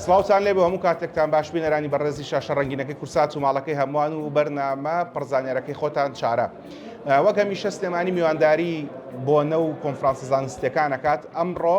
سلااوان لێ بۆ هەموو کاتێکتان باش بینەرانی بەڕێزی شاشە ڕنگینەکەی کورسات و ماڵەکەی هەمووان و بەرنامە پڕزانانیارەکەی خۆتان چارە وەک هەمیشە سلێمانی میوانداری بۆنە و کۆنفرانسە زانستەکانەکات ئەمڕۆ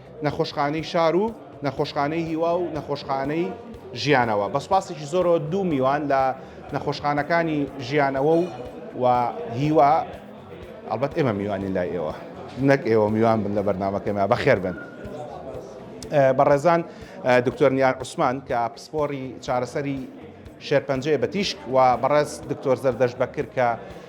نەخۆشخانەی شار و نەخۆشخانەی هیوا و نەخۆشخانەی ژیانەوە بە سوپاسێکی زۆرەوە دوو میوان لە نەخۆشخانەکانی ژیانەوە و و هیوا ئەڵبەت ئێمە میوانی لای ئێوە نەک ئێوە میوان بن لە بەرنمەکەمە بەخێر بن بەڕێزان دکتۆر نیار عوسمان کە پسپۆری چارەسەری شێرپەنجەیە بە تیشک و بەڕێز دکتۆر زەردەش بەکر کە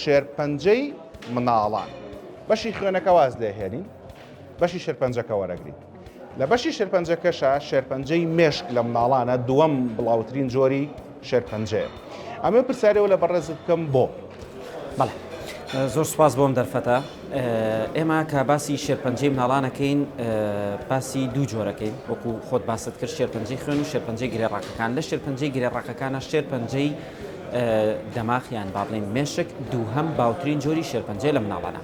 شێرپەنجەی مناڵان بەشی خوێنەکە واز لێ هێنین بەشی شێرپەنجەکە وەرەگرین لە بەشی شێرپەنجەکەشە شێرپەنجەی مێشک لە مناڵانە دووەم بڵاوترین جۆری شێرپەنجەیە ئەمە پرسیارەوە لە بەڕێزت بکەم بۆ بەڵێ زۆر سپاس بۆم دەرفەتە ئێمە کە باسی شێرپەنجەی مناڵانەکەین باسی دوو جۆرەکەین وەکو خۆت باست کرد شێرپەنجەی خوێن و شێرپەنجەی گرێڕاکەکان لە شێرپەنجەی گرێڕاکەکانە شێرپەنجەی دەماخ یان با بڵێین مێشک دووهەم باوترین جۆری شێرپەنجەیە لە مناڵانە.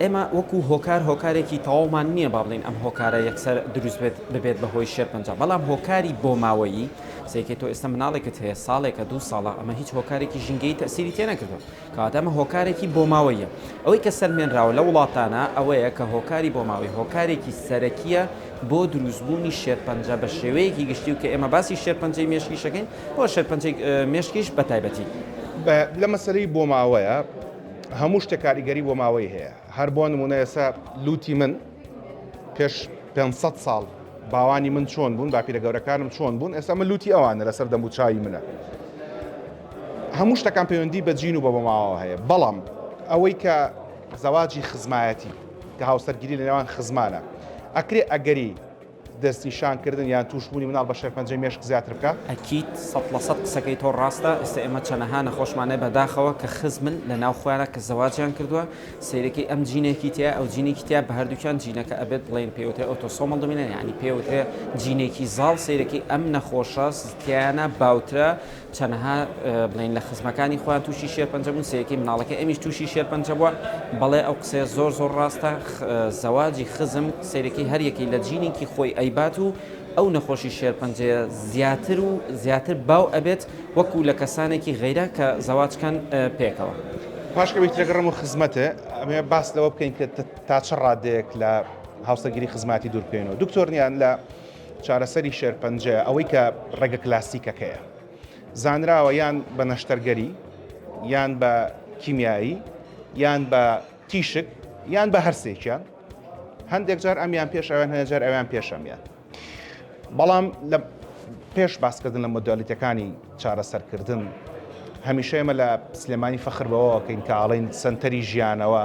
ئێمە وەکو هۆکار هۆکارێکی تەواومان نییە با بڵێین ئەم هۆکارە یەکسەر دروست بێت ببێت بە هۆی شێرپەنجە بەڵام هۆکاری بۆماوەیی سەیکەی تۆ ئێستا مناڵێکت هەیە ساڵێکە دوو ساڵە ئەمە هیچ هۆکارێکی ژینگەیی تەسیری تێنەکردووە کەواتە ئەمە هۆکارێکی بۆماوەییە. ئەوەی کە سەلمێنراوە لەو وڵاتانە ئەوەیە کە هۆکاری بۆماوەیی هۆکارێکی سەرەکییە بۆ دروستبوونی شێرپەنجە بە شێوەیەکی گشتی و کە ئێمە باسی شێرپەنجەی مێشکیش دەکەین و شێرپەنجەی مێشکیش بە تایبەتی. لە مەسەلەی بۆماوەیە هەموو شتێک کاریگەری بۆماوەیی هەیە، هەر بۆ نموونە ئێستا لووتی من، پێش پێنج سەد ساڵ باوانی من چۆن بوون باپیرە گەورەکانم چۆن بوون ئێستا من لوتی ئەوانە لەسەر دەم و چاوی منە هەموو شتەکان پەیوەندی بە جین و بە بەماوە هەیە بەڵام ئەوەی کە زەواجی خزمایەتی کە هاوسەرگیری لە نێوان خزمانە ئەکرێ ئەگەری دەستنیشان کردن یان تووش بوونی مناڵ بە شێرپەنجەی مێشک زیاتر بکا. ئەکید سەد لە سەد قسەکەی تۆ ڕاستە ئێستا ئێمە چەنەها نەخۆشمان هەیە بەداخەوە کە خزمن لە ناو خۆیانا کە زەواجیان کردوە سەیرەکەی ئەم جینێکی تیایە ئەو جینێکی تیایە بە هەردووکیان جینەکە ئەبێت بڵێن پێی وترێ ئۆتۆسۆمەڵ دۆمینەن یانی پێی وترێ جینێکی زاڵ سەیرەکەی ئەم نەخۆشە تیایانا باوترە چەنەها بڵێن لە خزمەکانی خۆیان تووشی شێرپەنجە بوون سەیەکەی مناڵەکەی ئەمیش تووشی شێرپەنجە بووە بەڵێ ئەو قسەیە زۆر زۆر ڕاستە زەواجی خزم سەیرەکەی هەریەکەی لە جینێکی خۆی ئەیبات و ئەو نەخۆشی شێرپەنجەیە زیاتر و زیاتر باو ئەبێت وەکو لە کەسانێکی غەیرە کە زەواجکەن پێکەوە. پاش ئەوەی تێگەڕم و خزمەتێ ئەمێ باس لەوە بکەین کە تا چ ڕادەیەک لە هاوسەرگیری خزماتی دوور بکەینەوە دکتۆر نیان لە چارەسەری شێرپەنجە ئەوەی کە ڕێگە کلاسیکەکەیە زانراوە یان بە نەشتەرگەری یان بە کیمیایی یان بە تیشک یان بە هەرسێکیان هەندێک جار ئەمیان پێش ئەویان هەیە جار ئەویان پێشەمیان بەڵام لە پێش باسکردن لە مۆدالیتەکانی چارەسەرکردن هەمیشە ئێمە لە سلێمانی فەخر بەوەکەین کە ئاڵین سنتەری ژیانەوە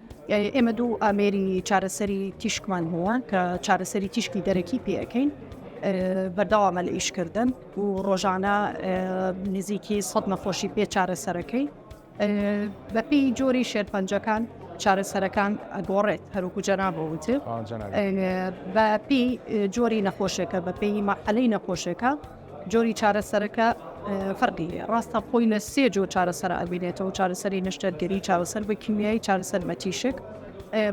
ئێمە دوو ئامێری چارەسەری تیشکمان هەیە کە چارەسەری تیشکی دەرەکی پێەکەین بەردەوامە لە ئیشکردن و ڕۆژانە نزیکی سەد نەخۆشی پێ چارەسەرەکەی بەپی جۆری شێرپەنجەکان چارەسەرەکان ئەگۆڕێت هەروکو جەنابەوە وتێ بەپی جۆری نەخۆشێکە بەپی مەحەلەی نەخۆشێکە جۆری چارەسەرەکە فەرقی هەیە، ڕاستە خۆی لە سێ جۆر چارەسەر ئەبینێتەوە، چارەسەری نەشتەرگەری، چارەسەر بە کیمیایی، چارەسەر بە تیشک،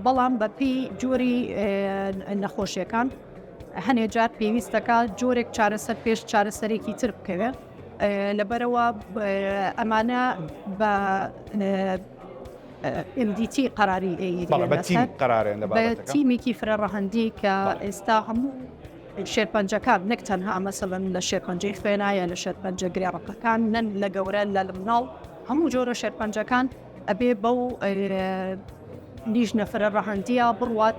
بەڵام بەپی جۆری نەخۆشیەکان هەنێ جار پێویستەکە جۆرێک چارەسەر پێش چارەسەرێکی تر بکەوێت لەبەرەوە ئەمانە بە MDT قەراری ئەی بەڵێ، بە تیم قەرارێن لە بە بابەتەکە. تیمێکی فرەڕەهەندی کە ئێستا هەموو شێرپەنجەکان نەک تەنها مەسەلەن لە شێرپەنجەی خوێنا یا لە شێرپەنجە گرێ ڕەقەکان نەن لە گەورە لە لمناڵ هەموو جۆرە شێرپەنجەکان ئەبێ بەو لیژنە فرە ڕەهەندیە بڕوات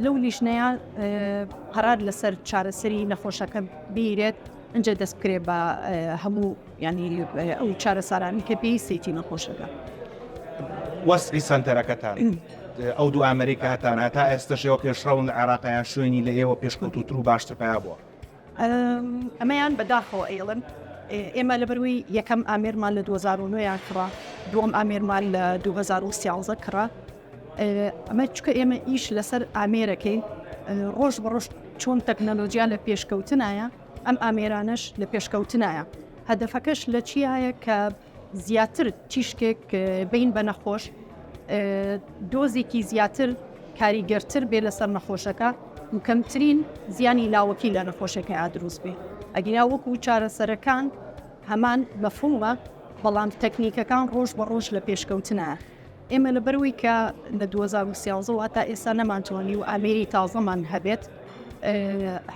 لەو لیژنەیە قەرار لەسەر چارەسەری نەخۆشەکە بیرێت ئەجا دەست بکرێت بە هەموو یانی ئەو چارەسارانەی کە پێویستێتی نەخۆشەکە. وەسفی سەنتەرەکەتان، ئەو دوو ئامەرەی کە هەتانە تا ئێستەش ئێوە پێشڕەون لە عێراق یان شوێنی لە ئێوە پێشکەوتووتر و باشتر پەیا بووە؟ ئەمەیان بەداخەوە ئەیڵێم، ئێمە لەبەرووی یەکەم ئامێرمان لە دوو هەزار و نۆ کڕا، دووەم ئامێرمان لە دوو هەزار و سیانزە کڕا، ئەمە چونکە ئێمە ئیش لەسەر ئامێرەکەین ڕۆژ بە ڕۆژ چۆن تەکنەلۆجیا لە پێشکەوتنایە، ئەم ئامێرانەش لە پێشکەوتنایە، هەدەفەکەش لە چیایە کە زیاتر تیشکێک بین بە نەخۆش دۆزێکی زیاتر کاریگەرتر بێ لەسەر نەخۆشەکە و کەمترین زیانی لاوەکی لە نەخۆشەکە ئادروست بێ ئەگینا وەکو چارەسەرەکان هەمان مەفهومە بەڵام تەکنیکەکان ڕۆژ بە ڕۆژ لە پێشکەوتنە. ئێمە لەبەرەوەی کە لە 2013 و هەتا ئێستا نەمانتوانی و ئامێری تازەمان هەبێت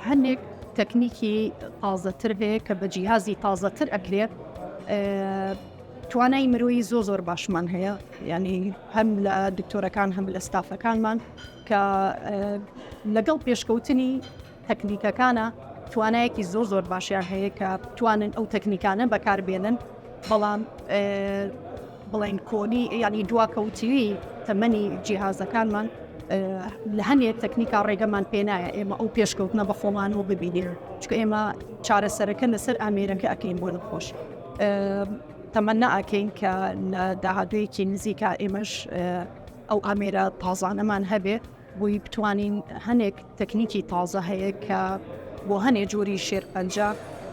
هەندێک تەکنیکی تازەتر هەیە کە بە جیهازی تازەتر ئەکرێت توانای مرۆیی زۆ زۆر باشمان هەیە ینی هەم لە دکتۆرەکان هەم لە ستافەکانمان کە لەگەڵ پێشکەوتنی تەکنیکەکانە توانایەکی زۆر زۆر باشیان هەیە کە بتوانن ئەو تەکنیکانە بەکاربێنن بەڵام بڵین کۆنی ینی دواکەوتوی تەمەنی جیهازەکانمان لە هەنێک تەکنیکا ڕێگەمان پێنایە ئێمە ئەو پێشکەوتنە بە خۆمان و ببینێن چکە ئێمە چارەسەرەکە لەسەر ئامێرەکە ئەکەین بۆ نەخۆش تەمەنا ئەکەین کە لە داهاتویەکی نزیکا ئێمەش ئەو ئامێرە تازانەمان هەبێت بۆی بتوانین هەنێک تەکنیکی تازە هەیە کە بۆ هەنێ جۆری شێرپەنجە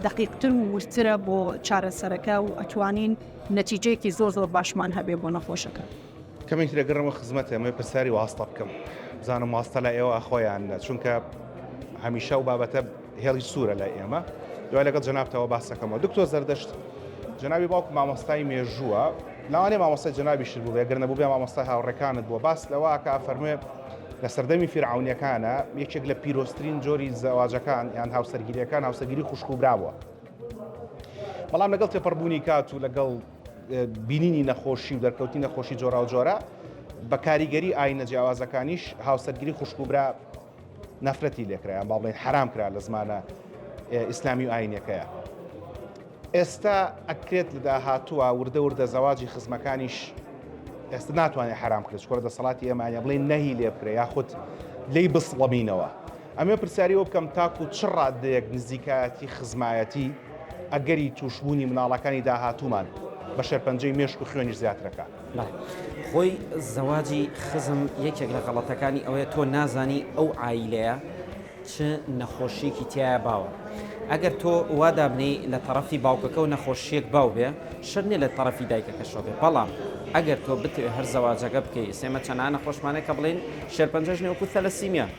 دقیقتر و وردترە بۆ چارەسەرەکە و ئەتوانین نەتیجەیەکی زۆر زۆر باشمان هەبێ بۆ نەخۆشەکە. کەمێک دەگەڕێمەوە خزمەت ئێمەی پرسیاری واستە بکەم بزانم واستە لای ئێوە ئەخوا یان نە چونکە هەمیشە ئەو بابەتە هێڵی سوورە لای ئێمە. دوای لەگەڵ جەنابتەوە باس دەکەمەوە. دکتۆر زەردەشت، جەنابی باوکم مامۆستای مێژووە، لەوانەیە مامۆستای جەنابیشت بووبێ، گەر نەبووبێ مامۆستای هاوڕێکانت بووە، باس لەوە ئەکا ئەفەرموێ لە سەردەمی فیرعەونییەکانا یەکێک لە پیرۆزترین جۆری زەواجەکان یان هاوسەرگیرییەکان هاوسەرگیری خوشک و برا بووە. بەڵام لەگەڵ تێپەڕبوونی کات و لەگەڵ بینینی نەخۆشی و دەرکەوتنی نەخۆشی جۆراوجۆرە بە کاریگەری ئاینە جیاوازەکانیش هاوسەرگیری خوشک و برا نەفرەتی لێکرا یان با بڵێن حەرام کرا لە زمانە ئیسلامی و ئاینەکەیە ئێستا ئەکرێت لە داهاتووە وردە وردە زەواجی خزمەکانیش ئێستا ناتوانێت حرام کرێت کۆرە دەسەڵاتی ئێمانە بڵێ نەهی لێ بکرێ یاخود لی بسڵەمینەوە ئەمێ پرسیاری وە بکەم تاکو چ ڕادەیەک نزیکایەتی خزمایەتی ئەگەری تووشبوونی مناڵەکانی داهاتوومان بە شەرپەنجەی مێشک و خوێنی زیاترەکە. بەڵێ خۆی زەواجی خزم یەکێک لە غەڵەتەکانی ئەوەیە تۆ نازانی ئەو عایلەیە چ نەخۆشیەکی تیایە باوە ئەگەر تۆ وا دابنێی لە تەڕەفی باوکەکەو نەخۆشیەک باو بێ شەرت نیە لە تەڕەفی دایکەکەشەوە بێ بەڵام ئەگەر تۆ بتەوێ هەر زەواجەکە بکەی ئێمە چەنانە خۆشمانە کە بڵێین شێرپەنجەش نیە وەکو ثەلەسیمیا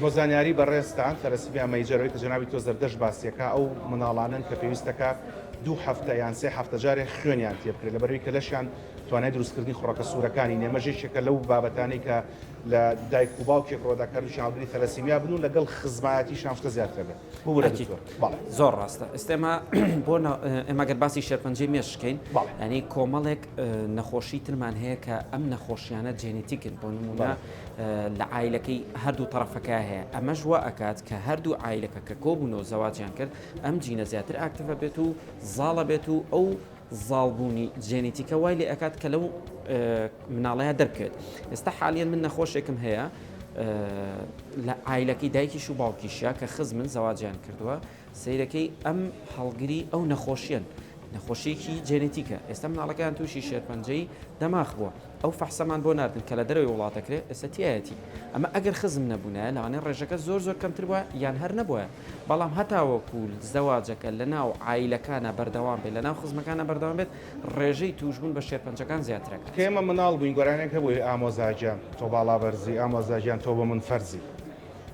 بۆ زانیاری بەڕێزتان تەلەسیمیا مەیجەر ئەوەی کە جەنابی تۆ زەردەشت باسی ئەکا ئەو مناڵانەن کە پێویستە کە دوو هەفتە یان سێ هەفتە جارێ خوێنیان تێ بکرێت لەبەرەوەی کە لەشیان توانای دروستکردنی خوڕەکە سوورەکانی نیە مەژ یەکێکە لەو بابەتانەی کە لە دایک و باوکێک ڕۆدا کە هەردووکیان هەڵگری تەلەسیمیا بن و لەگەڵ خزمایەتیشان شتە زیاتر ئەبێت ببورە ئەکید دکتۆر بەڵێ زۆر ڕاستە ئێستا ئێمە بۆ ئێمە گەر باسی شێرپەنجەی مێشک کەین بەڵێ یانی کۆمەڵێک نەخۆشی ترمان هەیە کە ئەم نەخۆشیانە جێنیتیکن بۆ نمونە لە عیلەکەی هەردوو تەرەفەکە هەیە ئەمەش وا ئەکات کە هەردوو عیلەکە کە کۆبوونەوە زەواجیان کرد ئەم جینە زیاتر ئاکتفە بێت و زاڵە بێت و ئەو زاڵبوونی جێنیتیکە وای لێ ئەکات کە لەو مناڵەیە دەرکەوێت ئێستا حالیان من نەخۆشێکم هەیە لە ئایلەکەی دایکیش و باوکیشە کە خزمن زەواجیان کردووە سەیرەکەی ئەم هەڵگری ئەو نەخۆشیەن نەخۆشیەکی جێنێتیکە ئێستا مناڵەکان تووشی شێرپەنجەی دەماخ بووە ئەو فەحسەمان بۆ ناردن کە لە دەرەوەی وڵاتەکرێت ئێستەتیایەتی ئەمە ئەگەر خزم نەبوونە لەوانێ ڕێژەکە زۆر زۆر کەمتر بووە یان هەر نەبووە بەڵام هەتاوەکو زەواجەکە لە ناو عیلەکانە بەردەوام بێت لە ناو خزمەکانە بەردەوام بێت ڕێژەی تووشبوون بە شێرپەنجەکان زیاترەکە. کە ئێمە مناڵ بووین گۆرانیەک هەبوو ئێ ئامۆزاگیان تۆ باڵا بەرزی ئامۆزاگیان تۆ بۆ من فەرزی.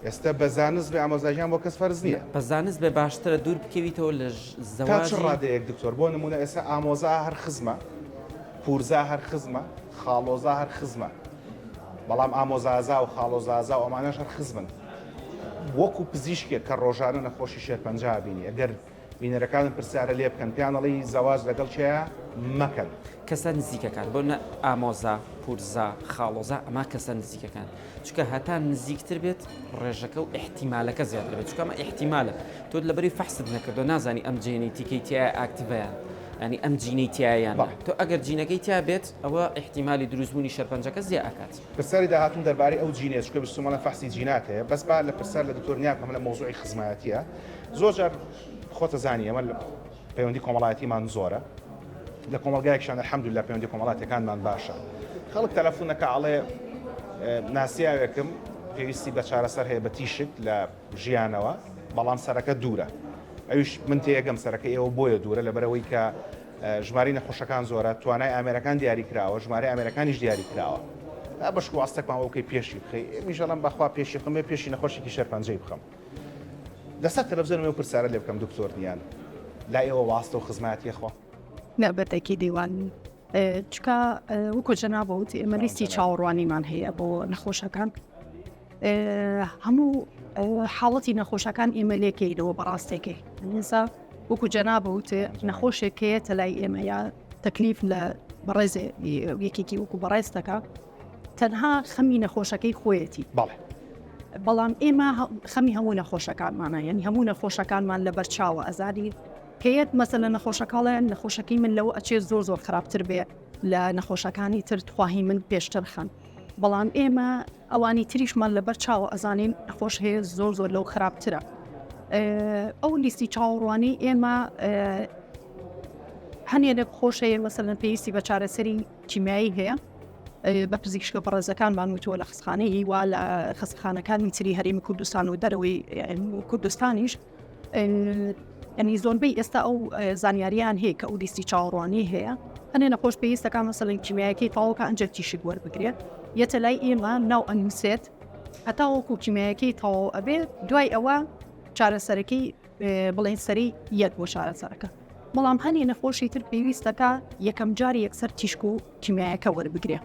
ئێستا بە زانست بێ ئامۆزای ژیان بۆ کەس فەرز نییە. بە زانست بێ باشترە دوور بکەویتەوە لە تا چ زەواجی. ڕادەیەک دکتۆر؟ بۆ نموونە ئێستا ئامۆزا هەر خزمە، پوورزا هەر خزمە، خاڵۆزا هەر خزمە. بەڵام ئامۆزازا و خاڵۆزازا و ئەمانەش هەر خزمن. وەکوو پزیشکێک کە ڕۆژانە نەخۆشی شێرپەنجە ئەبینی ئەگەر. بینەرەکانت پرسیارە لێ بکەن پێیان ئەڵێی زەواج لەگەڵ کێیە مەکەن. کەسە نزیکەکان بۆ نە ئامۆزا پورزا خاڵۆزا ئەما کەسە نزیکەکان چکە هەتا نزیکتر بێت ڕێژەکە و ئحتیمالەکە زیاتر بێت چکەمە ئحتیمالە تۆت لەبەری فەحست نەکردو نازانی ئەم جێنی تیکەی تایە ئاکتڤیان ینی ئەم جینەی تایان تۆ ئەگەر جینەکەی تیا بێت ئەوە ئحتیمالی دروستبوونی شەرپەنجەکە زیێ ئەکات پرسیاری داهاتوم دەربارەی ئەو جینەیە چکە بیستومانە فەحسی جینات هەیە بەس با لە پرسیار لە دکتۆر نیاکەم لە مەوزوعی خزمایەتیە زۆر جار خۆتە زانی ئێمە پەیوەندی کۆمەڵایەتیمان زۆرە لە کۆمەلگایکشان الحمدلله پەیوەندی کۆمەڵاتەکانمان باشە خەڵک تەلەفونەکە ئەڵێ ناسیاوێکم پێویستی بە چارەسەر هەیە بە تیشک لە ژیانەوە بەڵام سەرەکە دوورە ئەوش من تێگەم سەرەکە ئێوە بۆیە دوورە لەبەرەوەی کە ژماری نەخۆشەکان زۆرە توانای ئامێرەکان دیاری کراوە ژماری ئامێرەکانیش دیاری کراوە بەشکو ئاستەکمان وەکەی پێشی بخەی میژەڵم بەخوا پێشی خمێ پێشی نەخۆشێکی شەرپەنجەی بخەم لەسەر تەلەفزیۆنم ئەو پرسیارە لێ بکەم دکتۆر نیان لای ئێوە واستە و خزمایەتی خوا؟ لە بەردەکی دیوان چکە وەکو جەنا بۆ وتی ئێمە لیستی چاوەڕوانیمان هەیە بۆ نەخۆشەکان هەموو حاڵەتی نەخۆشەکان ئێمە لێکەیتەوە بەڕاستێکی ئینسا وەکو جەنا بۆ وتێ نەخۆشێکەیە تەلای ئێمە یا تەکلیف لە بەڕێزێ یەکێکی وەکو بەڕێزتەکە تەنها خەمی نەخۆشەکەی خۆیەتی. بەڵێ. بەڵام ئێمە خەمی هەموو نەخۆشەکانمانە یعنی هەموو نەخۆشەکانمان لە بەرچاوە ئەزانی پێت مەسە لە نەخۆشەکەڵێن نەخۆشەکەی من لەوە ئەچێت زۆر زۆر خراپتر بێ لە نەخۆشەکانی تر تخواهی من پێشتر خەن بەڵام ئێمە ئەوانی تریشمان لەبەر چاوە ئەزانین نەخۆش هەیە زۆر زۆر لەو خراپترە ئەو لیستی چاوەڕوانی ئێمە هەنێ لە خۆشەیە مەسەن پێویستی بە چارەسەری کیمیایی هەیە بە پزیشکە بەڕێزەکانمان وتووە لە خستخانەی وا لە خستخانەکانی تری هەرێمی کوردستان و دەرەوەی کوردستانیش ئەنی زۆربەی ئێستا ئەو زانیاریان هەیە کە ئەو لیستی چاوەڕوانی هەیە ئەنێ نەخۆش پێویستەکان مەسەلەن کیمیایەکەی تاوەکە ئەنجەر تیشک وەربگرێت یەتە لای ئێمە ناو ئەنووسێت هەتا وەکو کیمیایەکەی تەواو ئەبێت دوای ئەوە چارەسەرەکەی بڵێن سەری یەک بۆ چارەسەرەکە بەڵام هەنێ نەخۆشی تر پێویستەکە یەکەم جاری یەکسەر تیشک و کیمیایەکە وەربگرێ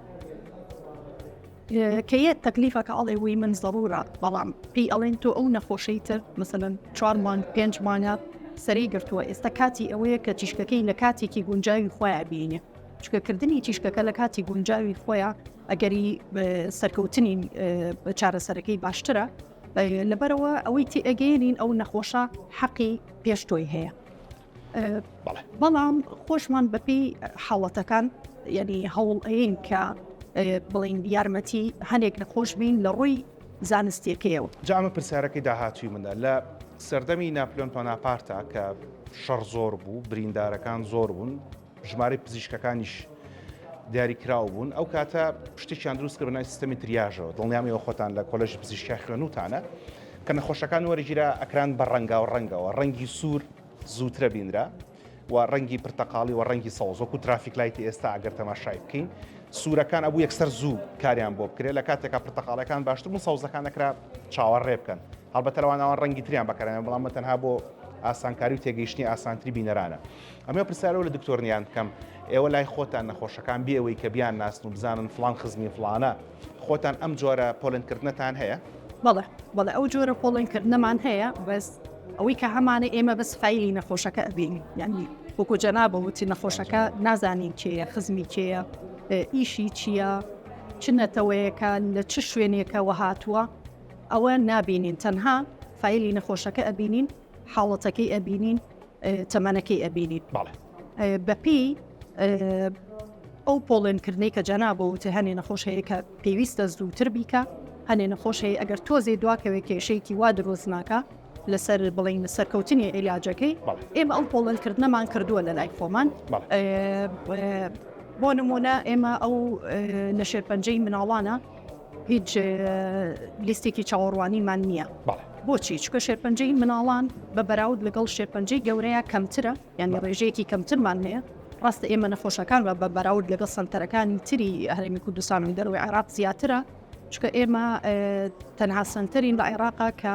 کە یە تەکلیفەکە ئەڵێ وی من زەڕورە بەڵام پێی ئەڵێن تۆ ئەو نەخۆشەی تر مثلەن چوارمان پێنجمانە سەری گرتووە ئێستا کاتی ئەوەیە کە تیشکەکەی لە کاتێکی گونجاوی خۆیان بینێ چکەکردنی تیشکەکە لە کاتی گونجاوی خۆیان ئەگەری سەرکەوتنی چارەسەرەکەی باشترە لەبەرئەوە ئەوەی تێئەگەیەنین ئەو نەخۆشە حەقی پێش تۆی هەیە. بەڵام خۆشمان بەپی حاڵەتەکان یعنی هەوڵ ئەین کە بڵین یارمەتی هەنێک نەخۆش بین لە ڕووی زانستیەکەیەوە جامە پرسیارەکەی داهاتوی منە لە سەردەمی ناپلۆن پۆناپارتا کە شەڕ زۆر بوو بریندارەکان زۆر بوون ژمارەی پزیشکەکانیش دیاریکراو بوون ئەو کاتە شتێکیان دروست کرد بەنای سیستەمی تریاژەوە دڵنیامەوە خۆتان لە کۆلژی پزیشکیا خوێنوتانە کە نەخۆشەکان وەرەگیرا ئەکران بە ڕەنگا و ڕەنگەوە ڕەنگی سوور زووترە بینرا و ڕەنگی پرتەقاڵی و ڕەنگی سەوزۆک و ترافیک لایتی ئێستا ئەگەر تەماشای بکەین سوورەکان ئەبوو یەکسەر زوو کاریان بۆ بکرێت لە کاتێکا پرتەقاڵەکان باشتر بوو سەوزەکان نەکرا چاوەڕ ڕێ بکەن هەڵبەتەوانەوان ڕەنگی تریان بەکەرانە بەڵام تەنها بۆ ئاسانکاری و تێگەیشتنی ئاسانتری بینەرانە ئەمێ پرسیارەوە لە دکتۆر نیان بکەم ئێوە لای خۆتان نەخۆشەکان بێەوەی کە بیان ناسن و بزانن فلان خزمی فلانە خۆتان ئەم جۆرە پۆلنکردنەتان هەیە بەڵێ بەڵێ ئەو جۆرە پۆڵێنکردنەمان هەیە بەس ئەوەی کە هەمانە ئێمە بەس فیلی نەخۆشەکە ئەبین یعنی وەکو جەنا بەوتی نەخۆشەکە نازانین کێە خزمی کێە ئیشی چییە چ نەتەوەیەکە لە چ شوێنێکەوە هاتووە ئەوە نابینین تەنها فیلی نەخۆشەکە ئەبینین حاڵەتەکەی ئەبینین تەمەنەکەی ئەبینین بەپی ئەو پۆڵێنکردنەی کە جەنابەوە وتە هەنێ نەخۆش هەیە کە پێویستە زووتر بیکە هەنێ نەخۆش هەیە ئەگەر تۆزێ دواکەوێ کێشەیەکی وا درۆزناکە لەسەر بڵین سەرکەوتنی عیلاجەکەی ئێمە ئەو پۆڵێنکردنەمان کردووە لە لای خۆمان بۆ نمونە ئێمە ئەو لە شێرپەنجەی مناڵانە هیچ لیستێکی چاوەڕوانیمان نییە بۆچی چکە شێرپەنجەی مناڵان بە بەراود لەگەڵ شێرپەنجەی گەورەیە کەمترە یانی ڕێژەیەکی کەمترمان هەیە ڕاستە ئێمە نەخۆشەکان بە بەراود لەگەڵ سنتەرەکانی تری هەرێمی کوردستان و دەروی عێراق زیاترە چکە ئێمە تەنها سنتەرین لە عێراقا کە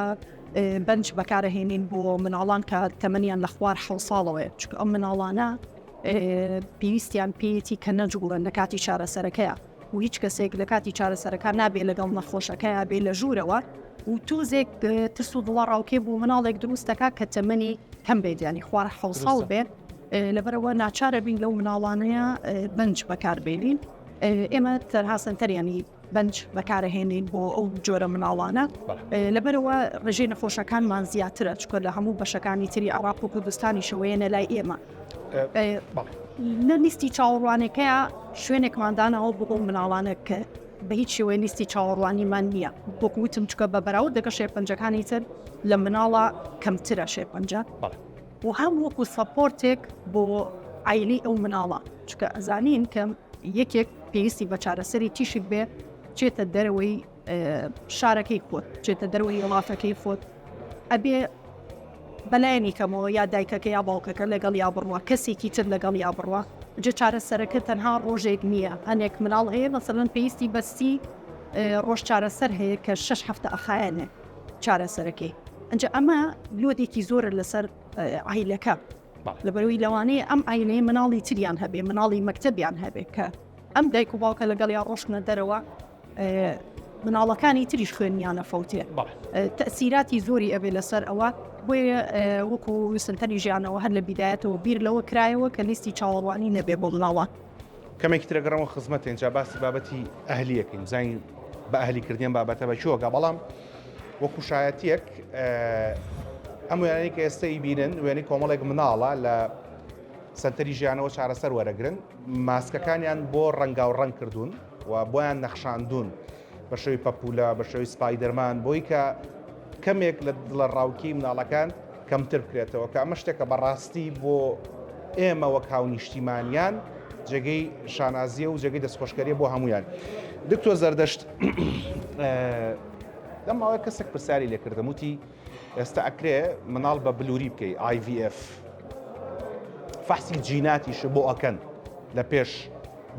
بەنج بەکارهێنین بۆ مناڵان کە تەمەنیان لە خوار حە ساڵەوەی چکە ئەم مناڵانە پێویستیان پێیەتی کە نەجوڵن لە کاتی چارەسەرەکەیە و هیچ کەسێک لە کاتی چارەسەرەکان نابێ لەگەڵ نەخۆشەکەیا بێ لە ژوورەوە و تۆزێک ترس و دڵەڕاوکێ بۆ مناڵێک دروست دەکات کە تەمەنی کەم بێت یانی خوار حوساڵ بێت لەبەرەوە ناچارە بین لەو مناڵانەیە بنج بەکاربێنین ئێمە تەرها سنتەریانی بنج بەکارهێنین بۆ ئەو جۆرە مناڵانە لەبەرەوە ڕژێ نەخۆشەکانمان زیاترە چکۆ لە هەموو بەشەکانی تری عراق و کوردستانی شەوەیەە لای ئێمە لە لیستی چاوەڕوانەکەیە شوێنێکمان داناوە بۆ مناڵانە کە بە هیچ شێوەی لیستی چاوەڕوانیمان نییە بۆکوتم چکە بە بەراود دەگە شێرپەنجەکانی تر لە مناڵە کەمترە شێرپەنجە بۆ هەم وەکو سەپۆرتێک بۆ ئایلی ئەو مناڵە چکە ئەزانین کەم یەکێک پێویستی بە چارەسەری تیشک بێ چێتە دەرەوەی شارەکەی خۆت بچێتە دەروەی وڵاتەکەی خۆت ئەبێ بەلایەنی کەمەوە یا دایکەکە یا باوکەکە لەگەڵ یا بڕوە کەسێکی تر لەگەڵ یا بڕوە جە چارە سەرەکە تەنها ڕۆژێک نییە هەنێک مناڵ هەیە مەسەن پێویستی بەستی ڕۆژ چارە سەر هەیە کە شش هەفتە ئەخایەنێ چارە سەرەکەی ئەجا ئەمە لۆدێکی زۆرە لەسەر ئایلەکە لەبەروی لەوانەیە ئەم ئاینەیە مناڵی تریان هەبێ مناڵی مەکتتەبیان هەبێت کە ئەم دایک و باوکە لەگەڵ یا ڕۆشنە دەرەوە مناڵەکانی تریش خوێنیانە فەوتێ تەسیراتی زۆری ئەبێ لەسەر ئەوە بۆی وەکو سنتەری ژیانەوە هەر لە بیدایەتەوە بیر لەوە کرایەوە کە لیستی چاوەڕوانی نەبێ بۆ مناڵە کەمێکی ترەگەڕەوە خزمەت تێنجا باسی بابەتی ئەهلیەکەین زین بە ئەهلیکردیان بابەتە بە چۆگە بەڵام وەکو شایەتیەک ئەم وێنانی کە ئێستای بینن وێنی کۆمەڵێک مناڵە لە سنتەری ژیانەوە چارەسەر وەرەگرن ماسکەکانیان بۆ ڕەنگاو ڕەنگ کردوون و بۆیان نەخشاندوون بە شێوەی پەپوولە، بە شێوەی سپایدەرمان، بۆی کە کەمێک لە دڵەڕاوکێی منداڵەکان کەمتر بکرێتەوە، کە ئەمە شتێکە بە ڕاستی بۆ ئێمە وەک هاونیشتیمانیان جێگەی شانازییە و جێگەی دەستخۆشکەرییە بۆ هەموویان. دکتۆر زەردەشت، لەم ماوەیە کەسێک پرسیاری لێ کردم وتی، ئێستا ئەکرێ مناڵ بە بلوری بکەی IVF فەحسی جیناتیش بۆ ئەکەن لە پێش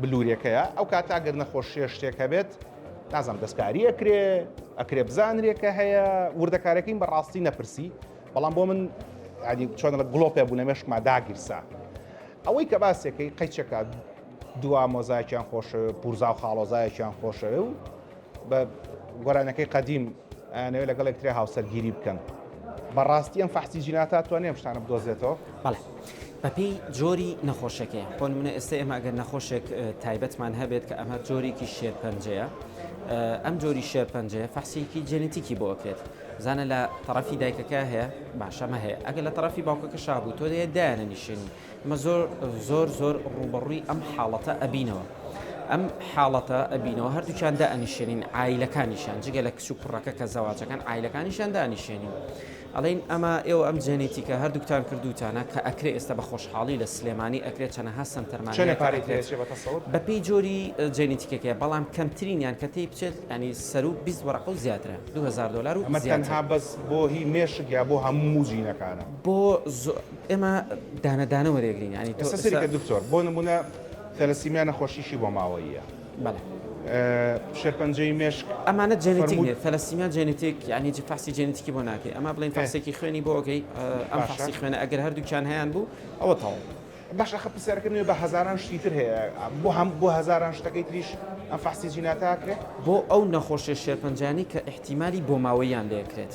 بلورێکەیە ئەو کات ئەگەر نەخۆشیە شتێک هەبێت نازم دەستکاری ئەکرێ ئەکرێ بزانرێکە هەیە وردەکارەکەین بەڕاستی نەپرسی بەڵام بۆ من ینی چۆن لە گڵۆپێ بوو لە مێشکما داگیرسا ئەوەی کە باسێکەکەی قەیچەکە دوا مۆزایکیان خۆشەوێ پورزا و خاڵۆزایەکیان خۆشەوێ و بە گۆرانەکەی قەدیم ئەیانەوێت لەگەڵ یەکترێ هاوسەرگیری بکەن بەڕاستی ئەم فەحسی جیناتا توانێ شتانە بدۆزێتەوە بەڵێ بەپی جۆری نەخۆشەکەی بۆ منە ئێستا ئێمە ئەگەر نەخۆشێک تایبەتمان هەبێت کە ئەمە جۆرێکی شێرپەنجەیە ئەم جۆری شێرپەنجەیە فەحسیکی جێنێتیکی بۆ ئەکرێت زانە لە طرفی دایکەکە هەیە باشەمە هەیە ئەگەر لە طرفی باوکەکە شابوو تۆ دەیە دایانە نیشێنی ئێمە زۆر زۆر زۆر ڕووبەڕووی ئەم حاڵەتە ئەبینەوە ئەم حاڵەتە ئەبینەوە هەردووچان دانیشێنین ئایلەکانیشان جگە لە کچ و کوڕەکە کە زەواجەکان ئایلەکانیشان دانیشێنین ئەڵین ئەمە ئێوە ئەم جێنێتیکە هەردووکتان کردوتانە کە ئەکرێ ئێستا بە خۆشحاڵی لە سلێمانی ئەکرێت چەنەها سنتەرمان چەنە پارێک لێ چێ بە تەسەوت؟ بە پێی جۆری جێنێتیکەکەیە بەڵام کەمترینیان کە تێی بچێت ینی سەروو 20 وەرەقە و زیاترە 2000 دۆلار و ئەمە زیاتر. تەنها بەس بۆ هی مێشک یا بۆ هەموو جینەکانە؟ بۆ زۆ ئێمە دانە دانە وەرێگرین یانی تۆ ئێستا سەیری کە دکتۆر بۆ نموونە ثەلەسیمیا نەخۆشیی بۆ ماوەییە بەڵێ شێرپەنجەی مێشک ئەمانە جێنێتیک نیە ثەلەسیمیا جێنێتیک یانی هیچ فەحسی جێنێتیکی بۆ ناکەی ئەمە بڵێین فەحسێکی خوێنی بۆ ئەکەی ئەم فەحسی خوێنە ئەگەر هەردووکیان هەیان بوو ئەوە تەواو باشە ئەخە پرسیارەکەم نوێ بە هەزاران شتی تر هەیە بۆ هەم بۆ هەزاران شتەکەی تریش ئەم فەحسی جینات ئەکرێ بۆ ئەو نەخۆشیە شێرپەنجانەی کە ئیحتیمالی بۆماوەییان لێ کرێت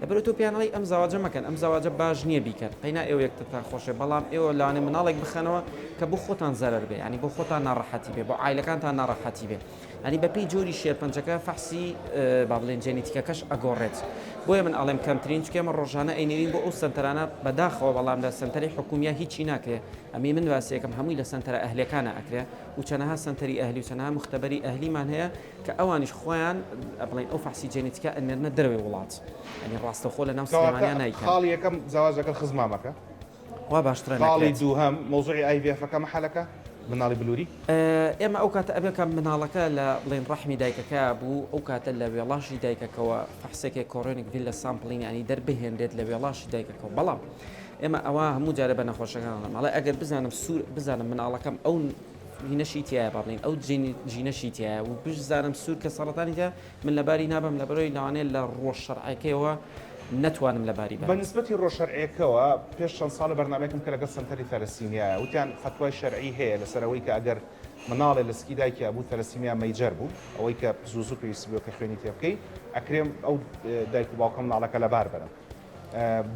لەبەرئەوە تۆ پێیان ئەڵێی ئەم زەواجە مەکەن ئەم زەواجە باش نیە بیکەن قەینا ئێوە یەکترتان خۆشەوێت بەڵام ئێوە لەوانەیە مناڵێک بخەنەوە کە بۆ خۆتان زەرەر بێ یانی بۆ خۆتان ناڕەحەتی بێ بۆ عایلەکانتان ناڕەحەتی بێ ینی بەپێی جۆری شێرپەنجەکە فەحسی با بڵێن جێنیتیکەکەش ئەگۆڕێت بۆیە من ئەڵێم کەمترین چکە ئێمە ڕۆژانە ئەینێرین بۆ ئەو سەنتەرانە بەداخەوە بەڵام لە سەنتەری حکومیە هیچی ناکرێ ئەمی من واسیەکەم هەمووی لە سەنتەرە ئەهلەکانە ئەکرێ و چەنەها سەنتەری ئەهلی و چەنەها مختبەری ئەهلیمان هەیە کە ئەوانیش خۆیان بڵێن ئەو فەحسی جێنیتیکە ئەنێرنە دەرەوەی وڵات یانی ڕاستەوخۆ لە ناو سلێمانیا نایکەن. کەواتە خاڵی یەکەم زەواج لەگەڵ خزمامەکە وا باشترە نەکرێت. خاڵی دووهەم مەوزوعی ئای ڤی ئێفەکە مەحەلەکە منداڵی بلوری. ئێمە ئەو کاتە ئەبێ کە منداڵەکە لە بڵێن ڕەحمی دایکەکەیا بوو ئەو کاتە لە وێڵاشی دایکەکەوە فەحسێکێ کۆرۆنیک ڤیلە سامپلینگ یانی دەر بهێنرێت لە وێڵاشی دایکەکەوە بەڵام ئێمە ئەوە هەموو جارێ بە نەخۆشەکان ئەڵێم ئەڵێ ئەگەر بزانم سوور بزانم منداڵەکەم ئەو ژینەشی تیایە بەڕلین ئەو ژینەشی تیایە و بژ زارم سوور کە سەرەتانی تیا من لەباری نابم لەبەرەوەی لەوانەیە لە ڕۆژ شەرعەکەیەوە نەتوانم لەباری بەرم. بە نسبەتی ڕۆژ شەرعیەکەوە پێش چەند ساڵێ بەرنامەیەکم کە لەگەڵ سەنتەری ثەلەسیمیایە وتیان فەتوای شەرعی هەیە لەسەر ئەوەی کە ئەگەر مناڵێ لە سکی دایکیا بوو ثەلەسیمیا مەیجەر بوو ئەوەی کە زوو زوو پێویستی بوو کە خوێنی تێ بکەی ئەکرێ ئەو دایک و باوکە مناڵەکە لەبار بەرم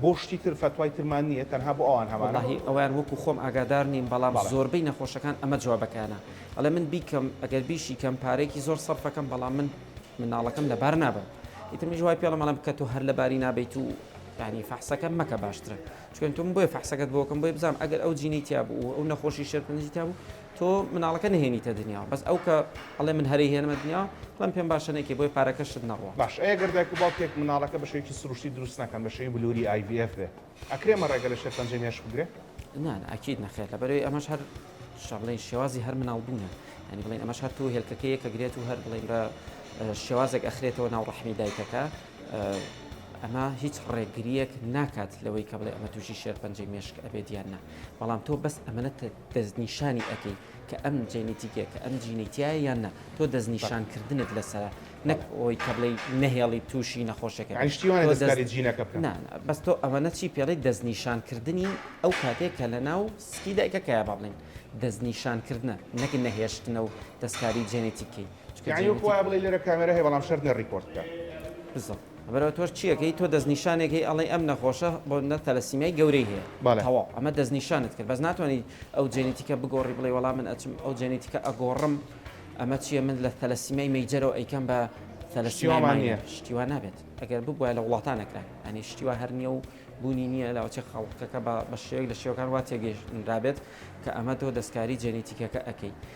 بۆ شتی تر فەتوای ترمان نیە تەنها بۆ ئەوان هەمانە. وەڵاهی ئەوەیان وەکو خۆم ئاگادار نیم بەڵام بەڵێ. زۆربەی نەخۆشەکان ئەمە جوابەکەیانە ئەڵێ من بیکەم ئەگەر بیشی کەم پارەیەکی زۆر سەرف ئەکەم بەڵام من مناڵەکەم لەبار نابەم ئیتر منیش وای پێڵێم ئەڵێم کە تۆ هەر لەباری نابەیت و یانی فەحسەکە مەکە باشترە چوونکە من بۆیە فەحسەکەت بۆکەم بۆیە بزانم ئەگەر ئەو جینەی تیابوو و ئەو نەخۆشی شێرپەنجەی تیابوو تۆ مناڵەکە نەهێنیتە دنیاوە بەس ئەو کە ئەڵێ من هەرەی هێنمە دنیاوە بەم پێم باشە نەیکەی بۆیە پارەکەشت نەڕوا. باش ئەی گەر دایک و باوکێک مناڵەکە بە شێوەیەکی سروشتی دروست نەکەن بە شێوەی بلوری IVF بێ ئەکرێ مە ڕێگە لە شێرپەنجەی مێشک بگرێ؟ نا نا ئەکید نەخێر لەبەرەوەی ئەمەش هەر شە بڵێن شێوازی هەر مناڵ بوونە یعنی بڵێن ئەمەش هەر تۆ هێلکەکە یەکە گرێت و هەر بڵێن بە شێوازێک ئەخرێتەوە ناو ڕەحمی دایکەکە ئەمە هیچ ڕێگریەک ناکات لەوەی کە بڵێ ئەمە تووشی شێرپەنجەی مێشک ئەبێت یان نا بەڵام تۆ بەس ئەمەە دەستنیشانی ئەکەی کە ئەم جێنیتیکە کە ئەم جینەی تیایە یان نا تۆ دەستنیشان کردنت لەسەرە نەک ئەوەی کە بڵێی نەهێڵی تووشی نەخۆشەکە بێت یانی شتی وانە دەستکاری جینەکە بکەن نا نا بەس تۆ ئەوەنە چی پێڵێی دەستنیشان کردنی ئەو کاتێک کە لەناو سکی دایکەکەیە با بڵێین دەستنیشان کردنە نەک نەهێشتنە و دەستکاری جێنێتیکەی چونکە یانی وەکو جێنێتیک وایە بڵێی لێرە کامێرا هەیە بەڵام شەرت نیە ڕیکۆرد بکا. بزۆ. برا تۆش چیەکەی تۆ دەستنیشانێک هەی ئەڵێی ئەم نەخۆشە بۆ نە تەلەسیمیای گەورەی هەیە تەواو ئەمە دەستنیشانت کرد بەس ناتوانی ئەو جێنیتیکە بگۆڕی بڵێی وەڵا من ئەچم ئەو جێنیتیکە ئەگۆڕم ئەمە چیە من لە تەلەسیمیای مەیجەرەوە ئەیکەم بە تەلەسیمیای ماینەر شتی وا نابێت ئەگەر ببوایە لە وڵاتان ئەکرا یانی شتی وا هەر نیە و بوونی نیە لاوەچێ خەڵکەکە بە شێوەیەک لە شێوەکان وا تێگەیشتنرابێت کە ئەمە تۆ دەستکاری جێنیتیکەکە ئەکەی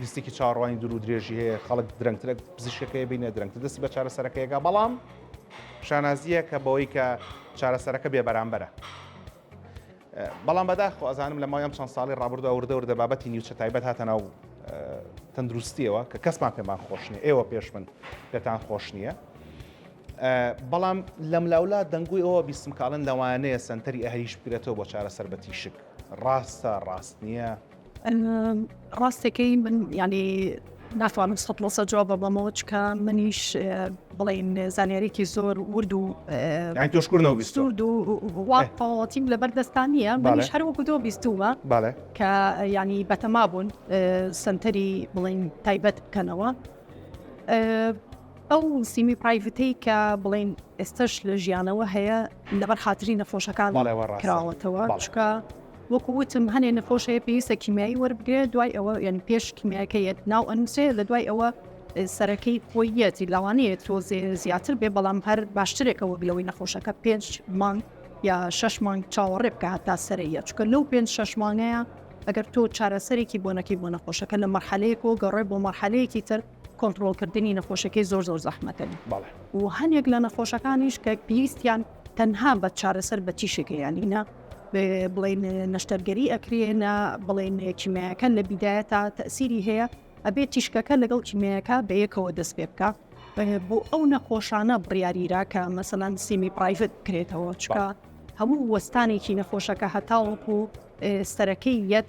لیستێکی چاوەڕوانی دوور و درێژی هەیە خەڵک درەنگترە پزیشکەکەی بینە درەنگتر دەستی بە چارەسەرەکەیەکە بەڵام شانازیە کە بەوەی کە چارەسەرەکە بێ بەرامبەرە بەڵام بەداخۆ ئەزانم لە ماوەم چەند ساڵی ڕابردو ئەوردە وردە بابەتی نیوچە تایبەت هاتە ناو تەندروستیەوە کە کەسمان پێمان خۆش نیە ئێوە پێش من پێتان خۆش نییە بەڵام لەم لاولا دەنگوی ئەوە بیستمکڵن لەوانەیە سنتەری ئەهریش بگرێتەوە بۆ چارەسەر بە تیشک ڕاستە ڕاست نییە ڕاستەکەی من ینی ناتوانم سە لەسە جواب بەمەوە چکە منیش بڵین زانیارێکی زۆر ورد و تۆشکردەوەستیم لە بەردەستان نیە منیش هەروەکو دۆ بیستومە کە ینی بەتەما بوون سنتەری بڵین تایبەت بکەنەوە ئەو سیمی پرایڤەتەی کە بڵین ئێستش لە ژیانەوە هەیە لەبەر خاتری نەخۆشەکان کراوەتەوە چکە وەکو وتم هەنێ نەخۆش هەیە پێویستە کیمیایی وەربگرێت دوای ئەوە یعنی پێش کیمیاکە یەت ناو ئەنووسێ لە دوای ئەوە سەرەکەی خۆی یەتی لاوانەیە تۆ زیاتر بێ بەڵام هەر باشترێکە وەک لەوەی نەخۆشەکە پێنج مانگ یا شش مانگ چاوەڕێ بکە هەتا سەرەیە چکە لەو پێنج شش مانگەیە ئەگەر تۆ چارەسەرێکی بۆ نەکەی بۆ نەخۆشەکە لە مەرحەلەیەک و گەڕێ بۆ مەرحەلەیەکی تر کۆنتترۆلکردنی نەخۆشەکەی زۆر زۆر زەحمەتەن و هەندێک لە نەخۆشەکانیش کە پێویستیان تەنها بە چارەسەر بە تیشێکە یانینە بڵێن نەشتەرگەری ئەکرێ نە بڵێن کیمیاکە لە بیدایە تا تەسیری هەیە ئەبێت تیشکەکە لەگەڵ کیمیاکە بەیەکەوە دەست پێ بکە بۆ ئەو نەخۆشانە بڕیاریرا کە مەسەلاند سیمی پرایڤت بکرێتەوە چکە هەموو وەستانێکی نەخۆشەکە هەتاوەکو سەرەکەی یەت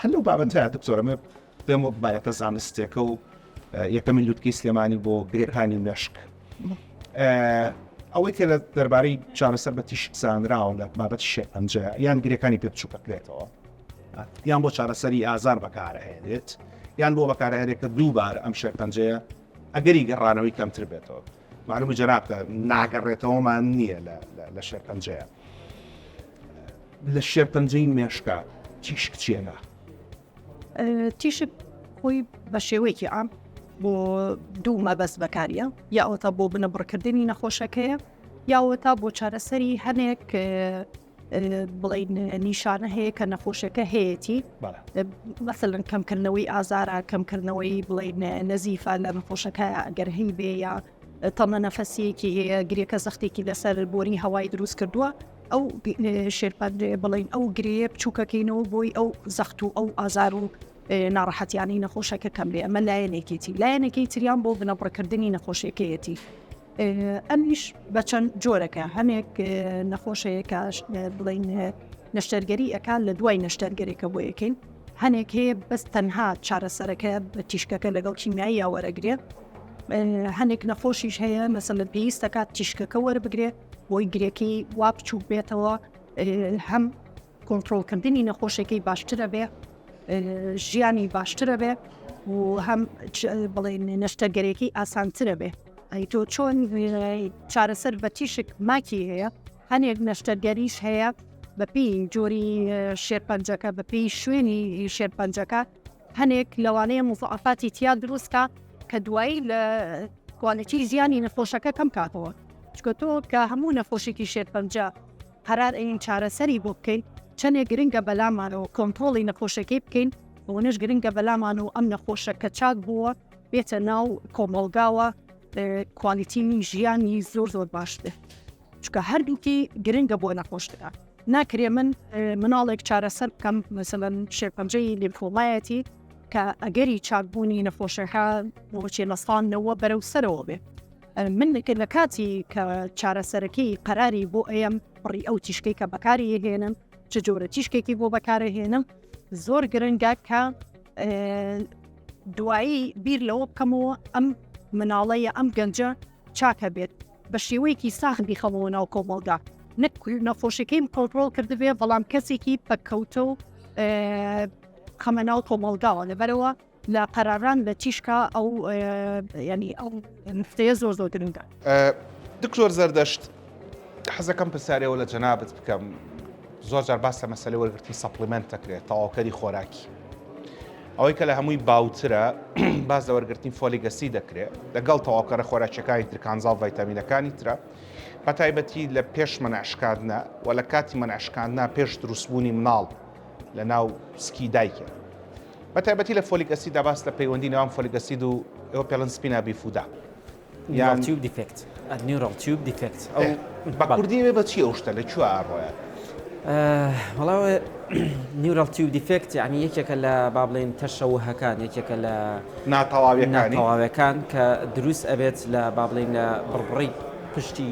هەر لەو بابەتەیا دکتۆر ئەمە پێم وەک بابەتە زانستێکە و یەکەمین لوتکەی سلێمانی بۆ گرێکانی مێشک ئەوەی کە لە دەربارەی چارەسەر بە تیشک زانراوە لە بابەت شێپەنجە یان گرێکانی پێ بچووکە بکرێتەوە یان بۆ چارەسەری ئازار بەکارهێنێت یان بۆ بەکارهێنێت کە دووبارە ئەم شێپەنجەیە ئەگەری گەڕانەوەی کەمتر بێتەوە معلومە جەنابتە ناگەڕێتەوەمان نییە لە شێرپەنجەیە لە شێرپەنجەی مێشکە تیشک چێنە تیشک خۆی بە شێوەیەکی ئام بۆ دوو مەبەست بەکاریە یاوەتا بۆ بنەبڕکردنی نەخۆشەکەیە یاوەتا بۆ چارەسەری هەنێک بڵێین نیشانە هەیە کە نەخۆشەکە هەیەی مەسەن کەمکردنەوەی ئازارە کەمکردنەوەی بڵێین نەزیفە لە نەخۆشەکە ئەگەر هەی بێ یا تەمە نەفەسیەکی هەیە گرێکە زەختێکی لەسەر بۆری هەوای دروست کردووە ئەو شێرپەندێ بڵین ئەو گرێ بچووکەکەینەوە بۆی ئەو زەخت و ئەو ئازار و ناڕەحەتیانی نەخۆشەکە کەم بێ ئەمە لایەنێکێتی لایەنەکەی تریان بۆ بنەبڕکردنی نەخۆشیەکەیەتی ئەمیش بە چەند جۆرەکە هەنێک نەخۆشەیە کە بڵین نەشتەرگەری ئەکان لە دوای نەشتەرگەرێکە بۆ یەکەین هەنێک هەیە بەس تەنها چارەسەرەکە بە تیشکەکە لەگەڵ کیمیایی یاوەرەگرێ هەنێک نەخۆشیش هەیە مەسە لە پێویستەکات تیشکەکە وەربگرێ بۆی گرێکی وا بچووک بێتەوە هەم کۆنتڕۆڵ کردنی نەخۆشەکەی باشترە بێ ژیانی باشترە بێ و هەم بڵێن نەشتەرگەرێکی ئاسانترە بێ ئەی تۆ چۆن چارەسەر بە تیشک ماکی هەیە هەنێک نەشتەرگەریش هەیە بەپی جۆری شێرپەنجەکە بەپی شوێنی شێرپەنجەکە هەنێک لەوانەیە مزعفاتی تیا دروستکە کە دوایی لە کوالەتی ژیانی نەخۆشەکە کەم کاتەوە چکە تۆ کە هەموو نەخۆشێکی شێرپەنجە قەرار ئەین چارەسەری بۆ بکەین چەنێ گرنگە بەلامان و کۆنترۆڵی نەخۆشەکەی بکەین ئەوەنەش گرنگە بەلامان و ئەم نەخۆشە کە چاک بووە بێتە ناو کۆمەڵگاوە کوالیتیی ژیانی زۆر زۆر باش بێت چکە هەردووکی گرنگە بۆ نەخۆش بکات ناکرێ من مناڵێک چارەسەر بکەم مەسەن شێپەنجەی لیمفۆمایەتی کە ئەگەری چاکبوونی نەخۆشەکە بۆچێ لەسانەوە بەرەو سەرەوە بێ من کە لە کاتی کە چارەسەرەکەی قەراری بۆ ئەم بڕی ئەو تیشکەی کە بەکاری هێنم چ جۆرە تیشکێکی بۆ بەکارە هێنم زۆر گرنگە کە دوایی بیر لەوە بکەمەوە ئەم مناڵەیە ئەم گەنجە چاکە بێت بە شێوەیەکی ساخ بیخەمەوە ناو کۆمەڵدا نەک نەخۆشەکەیم کۆنتترۆل کردبێ بەڵام کەسێکی پەککەوتە و خەمە ناو کۆمەڵگاوە لەبەرەوە لە قەراران لە تیشکا ئەو یانی ئەو نفتەیە زۆر زۆر گرنگە. دکتۆر زەردەشت حەزەکەم پرسیارەوە لە جەنابت بکەم زۆر جار باس لە مەسلەی وەرگرتنی سەپلیمنت دەکرێت تەواوکەری خۆراکی ئەوەی کە لە هەمووی باوترە باز لە وەرگرتنی فۆلیگەسی دەکرێت لەگەڵ تەواوکەرە خۆراکیەکانی ترکانزاڵ ڤایتامینەکانی ترە بە تایبەتی لە پێش منعشکاندنا و لە کاتی منعشکاندنا پێش دروستبوونی مناڵ لە ناو سکی دایکە بە تایبەتی لە فۆلیک ئەسید دا باس لە پەیوەندی نێوان فۆلیک ئەسید و ئەوە پێڵن سپینا بیفودا یان نیورال تیوب دیفێکت نیورال تیوب دیفێکت ئەو ئێ، بە بەڵێ. کوردی ئەوێ بە چی ئەو شتە لە کوێ ئاڕۆیە؟ وەڵا ئەوێ نیورال تیوب دیفێکت یانی یەکێکە لە با بڵێین تەشەووهەکان یەکێکە لە ناتەواویەکانی. ناتەواوەکان کە دروست ئەبێت لە با بڵێین لە بڕبڕی پشتی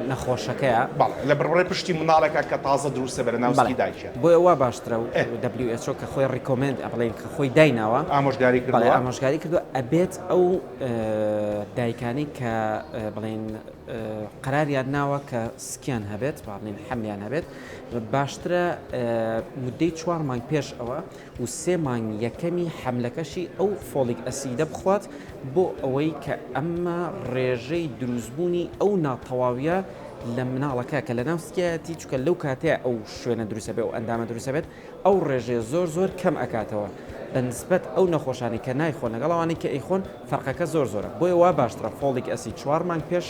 نەخۆشەکەیە بەڵێ لە بڕبڕەی پشتی منداڵێکە کە تازە دروستە بەرە ناو سکی دایکیە. بەڵێ بۆیە وا باشترە و WHO کە خۆی ڕیکۆمێند ئە بڵێین کە خۆی دایناوە ئامۆژگاری کردوە بەڵێ ئامۆژگاری کردوە ئەبێت ئەو دایکانەی کە بڵێین قەراریان ناوە کە سکیان هەبێت با بڵێین حەملیان هەبێت باشترە مدەی چوار مانگ پێش ئەوە و سێ مانگی یەکەمی حەملەکەشی ئەو فۆلیک ئەسیدە بخوات بۆ ئەوەی کە ئەمە ڕێژەی دروستبوونی ئەو ناتەواویە لە مناڵەکە کە لەناو سکیایەتی چونکە لەو کاتەیە ئەو شوێنە دروست ئەبێت ئەو ئەندامە دروست ئەبێت ئەو ڕێژەیە زۆر زۆر کەم ئەکاتەوە بە نسبەت ئەو نەخۆشانەی کە نایخۆن لەگەڵ ئەوانەی کە ئەیخۆن فەرقەکە زۆر زۆرە بۆیە وا باشترە فۆلیک ئەسید چوار مانگ پێش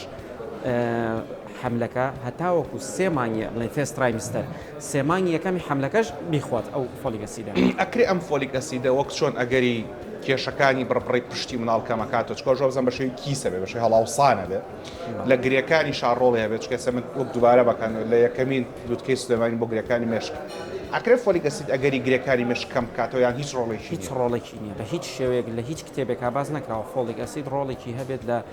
حەملەکە هەتاوەکو سێ مانگی بڵێین فێست ترایمستەر سێ مانگی یەکەمی حەملەکەش بیخوات ئەو فۆلیک ئەسیدە. ئەکرێ ئەم فۆلیک ئەسیدە وەک چۆن ئەگەری کێشەکانی بڕبڕەی پشتی منداڵ کەم ئەکاتەوە چونکە ئەوش وابزانم بەشێوەی کیسە بێ بەشێوەی هەڵاوسانە بێ لە گرێکانی شا ڕۆڵی هەبێ چونکە ئێستا من وەک دووبارە بەکەن لە یەکەمین لوتکەی سلێمانی بۆ گرێکانی مێشک ئەکرێ فۆلیک ئەسید ئەگەری گرێکانی مێشک کەم بکاتەوە یان هیچ ڕۆڵێکی هیچ ڕۆڵێکی نییە بە هیچ شێوەیەک لە هیچ کتێبێکا باس نەکراوە فۆلیک ئەسید ڕۆڵێکی هەبێت لە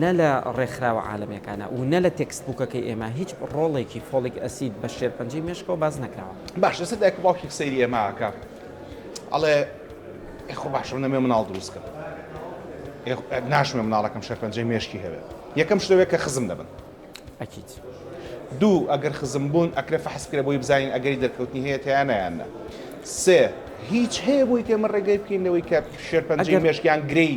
نە لە ڕێکخراوە عالەمیەکانە و نە لە تێکست بووکەکەی ئێمە هیچ ڕۆڵێکی فۆڵیک ئەسید بە شێرپەنجەی مێشکەوە باس نەکراوە. باش لەسەر دایک و باوکێک سەیری ئێمە ئەکا ئەڵێ ئێ خۆ باشە من نەموێ مناڵ دروست کەم ئێ ناشموێ مناڵەکەم شێرپەنجەی مێشکی هەبێ یەکەم شت ئەوێ کە خزم دەبن ئەکید. دوو ئەگەر خزم بوون ئەکرێ فەحس بکرێ بۆی بزانین ئەگەری دەرکەوتنی هەیە تیانا یان نە. سێ هیچ هەیە بۆی کە ئێمە ڕێگری بکەین لەوەی کە شێرپەنجەی مێشک یان گرێی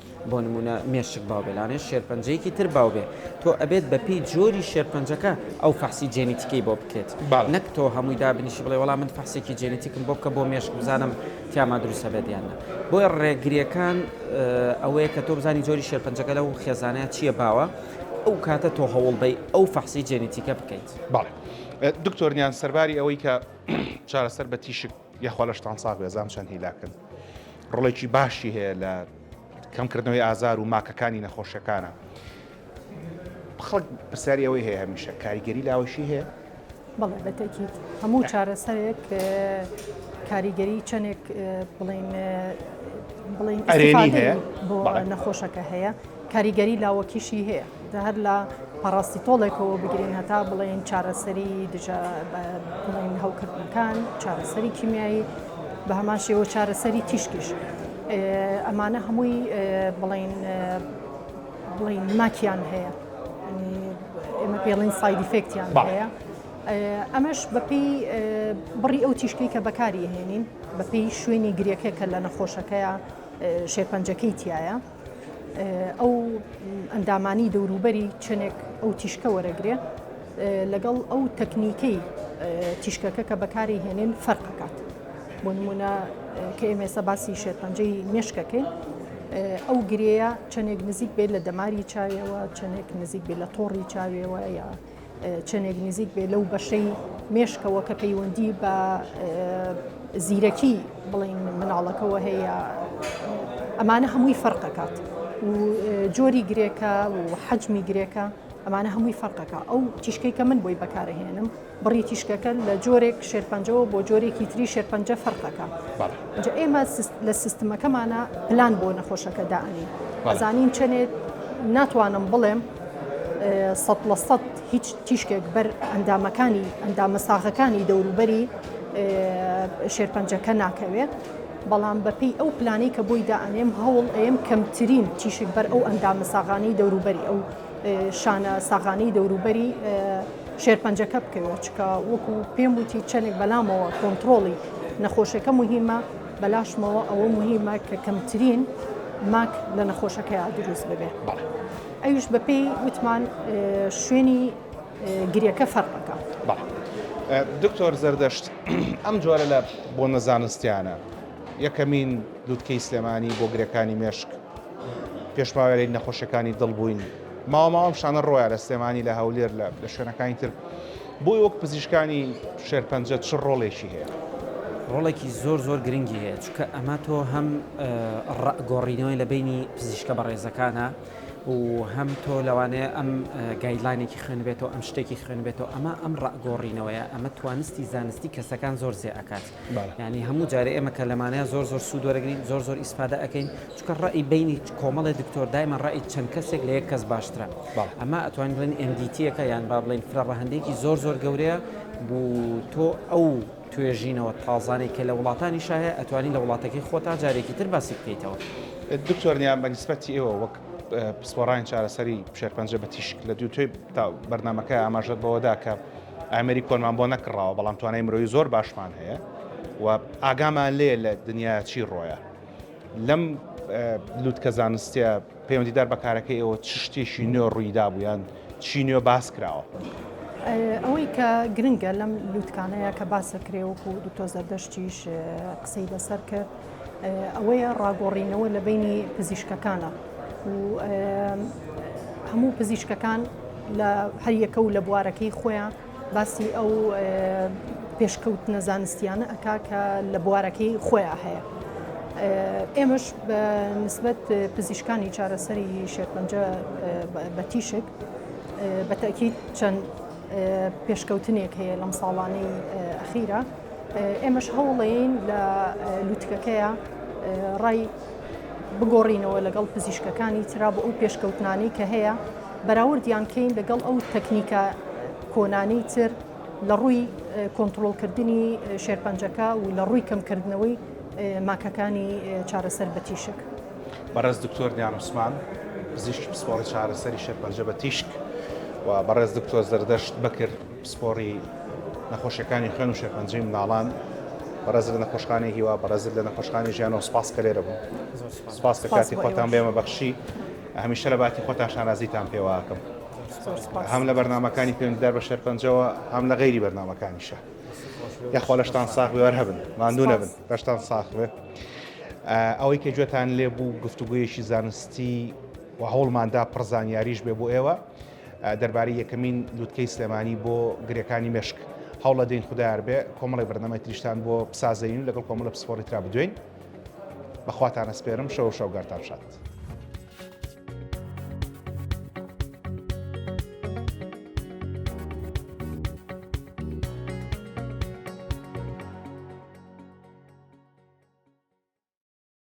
بۆ نموونە مێشک باو بێ لانێ شێرپەنجەیەکی تر باو بێ تۆ ئەبێت بەپێی جۆری شێرپەنجەکە ئەو فەحسی جێنیتیکەی بۆ بکرێت نەک تۆ هەمووی دابنیشی بڵێ وەڵام من فەحسێکی جێنیتیکم بۆ بکە بۆ مێشک بزانم تیاما دروستە بێت یاننا بۆیە ڕێگریەکان ئەوەیە کە تۆ بزانی جۆری شێرپەنجەکە لەو خێزانەیە چییە باوە ئەو کاتە تۆ هەوڵ بەی ئەو فەحسی جێنیتیکە بکەیت باڵێ دکتۆرنیان سەرباری ئەوەی کە چارەسەر بە تیشک یاخوا لەشتان ساغ بێ زام چەند هیلاکن ڕۆڵێکی باشی هەیە لە کەمکردنەوەی ئازار و ماکەکانی نەخۆشەکانە خەڵک پرسیاری ئەوەی هەیە هەمیشە کاریگەری لاوەشی هەیە بەڵێ بەتەکیت هەموو چارەسەرێک کاریگەری چەندێک بڵین بڵین ئەرێنی هەیە بۆ نەخۆشەکە هەیە کاریگەری لاوەکیشی هەیە جا هەر لە پاڕاستیتۆڵێکەوە بگرین هەتا بڵێین چارەسەری دژە بڵێن هەوکردنەکان چارەسەری کیمیایی بە هەمان شێوە چارەسەری تیشکیش ئەمانە هەمووی بڵین بڵین ماکیان هەیە ئێمە پێڵین سایدی فێکتیان هەیە ئەمەش بەپی بڕی ئەو تیشکی کە بەکاری هێنین بەپی شوێنی گرێکە کە لە نەخۆشەکەیە شێپەنجەکەی تایە ئەو ئەندامانی دەوروبەری چەندێک ئەو تیشکە وەرەگرێ لەگەڵ ئەو تەکنیکەی تیشکەکە کە بەکاری هێنن فەرقکات بۆ نمونە کە ئێمێسە باسی شێرپەنجەی مێشکەکەین ئەو گرەیە چەندێک نزیک بێت لە دەماری چاویەوە چەندێک نزیک بێت لە تۆڕی چاویەوە یا چەندێک نزیک بێ لەو بەشەی مێشکەوە کە پەیوەندی بە زیرەکی بڵین مناڵەکەەوە هەیە ئەمانە هەمووی فەرقەکات و جۆری گرێکە و حەجمی گرێکە ئەمانە هەمووی فەرقەکە ئەو تیشکەی کە من بۆی بەکارهێنم بڕی تیشکەکە لە جۆرێک شێرپەنجەوە بۆ جۆرێکی تری شێرپەنجە فەرقەکە ئێمە لە سیستمەکەمانە پلان بۆ نەخۆشەکە داانی ئەزانین چەندێت ناتوانم بڵێم سەد لە سەد هیچ تیشکێک بەر ئەندامەکانی ئەندامە ساغەکانی دەوروبەری شێرپەنجەکە ناکەوێت بەڵام بەپی ئەو پلانی کە بۆی دائەنێم هەوڵ ئەم کەمترین تیشک بەر ئەو ئەندامە ساغانی دەوروبەری ئەو شانە ساغانی دەوروبەری شێرپەنجەکە بکەوێت چکە وەکو پێم وتی چەندێک بەلامەوە کۆنتترۆڵی نەخۆشەکە مهمە بەلاشمەوە ئەوە موهیمە کە کەمترین ماک لە نەخۆشەکەیا دروست ببێ بەڵێ ئەویش بەپێی وتمان شوێنی گریەکە فەرقەکە بەڵێ دکتۆر زەردەشت ئەم جۆرە لە بۆ نەزانستیانە یەکەمین لوتکەی سلێمانی بۆ گرێکانی مێشک پێشماوەیەی نەخۆشیەکانی دڵ بووین ماوە ماوە ئەم شتانە ڕۆیە لە سلێمانی لە هەولێر لە لە شوێنەکانی تر بۆی وەک پزیشکانی شێرپەنجە چ ڕۆڵێکی هەیە ڕۆڵێکی زۆر زۆر گرنگی هەیە چکە ئەمە تۆ هەم گۆڕینەوەی لە بینی پزیشکە بەڕێزەکانە و هەم تۆ لەوانەیە ئەم گایدلاینێکی خوێنبێتەوە ئەم شتێکی خوێنبێتەوە ئەمە ئەم ڕگۆڕینەوەیە ئەمە توانستی زانستی کەسەکان زۆر زێ ئەکات یانی هەموو جارێ ئێمە کە لەمانە زۆر زۆر سوود وەرەگرین زۆر زۆر ئیسفادە ئەەکەین چکە ڕێی بینی کۆمەڵی دکتۆر دایمە ڕێی چەند کەسێک لە یەک کەس باشترە ئەمە ئەتوان بڵێن ئەمدیتیەکە یان با بڵێن فرە ڕەهندێکی زۆر زۆر گەورەیە بوو تۆ ئەو توێژینەوە تازانەی کە لە وڵاتانی شاهەیە ئەتوانی لە وڵاتەکەی خۆتا جارێکی تر باسی بکەیتەوە دکتۆرنیان بە نسبەتی ئێوە وەک پسپۆڕانی چارەسەری شێرپەنجە بە تیشک لە دوو توێ بەرنمەکە ئاماژەت بەوەدا کە ئامێری کۆنمان بۆ نەکڕاوە بەڵام توانای مرۆیی زۆر باشمان هەیە و ئاگامان لێ لە دنیا چی ڕۆیە لەم لوتکە زانستە پەیوەندیدار بەکارەکە ئێوە چ شتێکی نوێ ڕوویدا بوویان چی نوێ باس کراوە ئەوەی کە گرنگە لەم لوتکانەیە کە باسەکرێ وەکو دکتۆ زەردەشتیش قسەی لەسەر کرد ئەوەیە ڕاگۆڕینەوە لە بینی پزیشکەکانە و هەموو پزیشکەکان لە هەریەکە و لە بوارەکەی خۆیان باسی ئەو پێشکەوت نەزانستیانە ئەک کە لە بوارەکەی خۆیان هەیە. ئێمەش بە نسبەت پزیشکانی چارەسەری شێرپەنجە بە تیشک بەتەکی چەند پێشکەوتنێک هەیە لەم ساڵانەی ئەخیرە ئێمەش هەوڵەین لە لوتکەکەیە ڕای بگۆڕینەوە لەگەڵ پزیشکەکانی تررا بۆ ئەو پێشکەوتنانی کە هەیە بەراوردیان کەین لەگەڵ ئەو تەکنیکە کۆنانی تر لە ڕووی کۆنتترۆلکردنی شێرپەنجەکە و لە ڕووی کەمکردنەوەی ماکەکانی چارەسەر بە تیشک بەڕێز دکتۆر دیانوسمان پزیشکی پسپۆڕی چارەسەری شێرپەنجە بە تیشک و بەڕێز دکتۆر زەردەشت بکرد پسپۆڕی نەخۆشیەکانی خوێن و شێرپەنجەی منداڵان بەڕێزت لە نەخۆشخانەی هیوا بەڕێزت لە نەخۆشخانەی ژیانەوە سپاس کە لێرە بوون سپاس کە کاتی خۆتان بێمە بەخشی هەمیشە لە باتی خۆتان شانازیتان پێواکەم هەم لە بەرنمەکانی پێوەندیدار بە شێرپەنجەوە هەم لە غیری بەرنمەکانیشە یاخوا لەشتان ساخ بێوەەر هەبن ماندوو نەبن لەشتان ساخ بێ ئەوەی کە گوێتان لێ بوو گفتوگویەکی زانستی و هەوڵماندا پڕزانیاریش بێ بۆ ئێوە دەربارەی یەکەمین لوتکەی سلێمانی بۆ گرێکانی مێشک هەوڵەدەین خودایاربێ کۆمەڵی بەرنامەی تریشتان بۆ بسازەین و لەگەڵ کۆمەڵە پسپۆڕی ترا بدوێین بەخواتان ئەسپێرم شەو شەوگارتان شاد.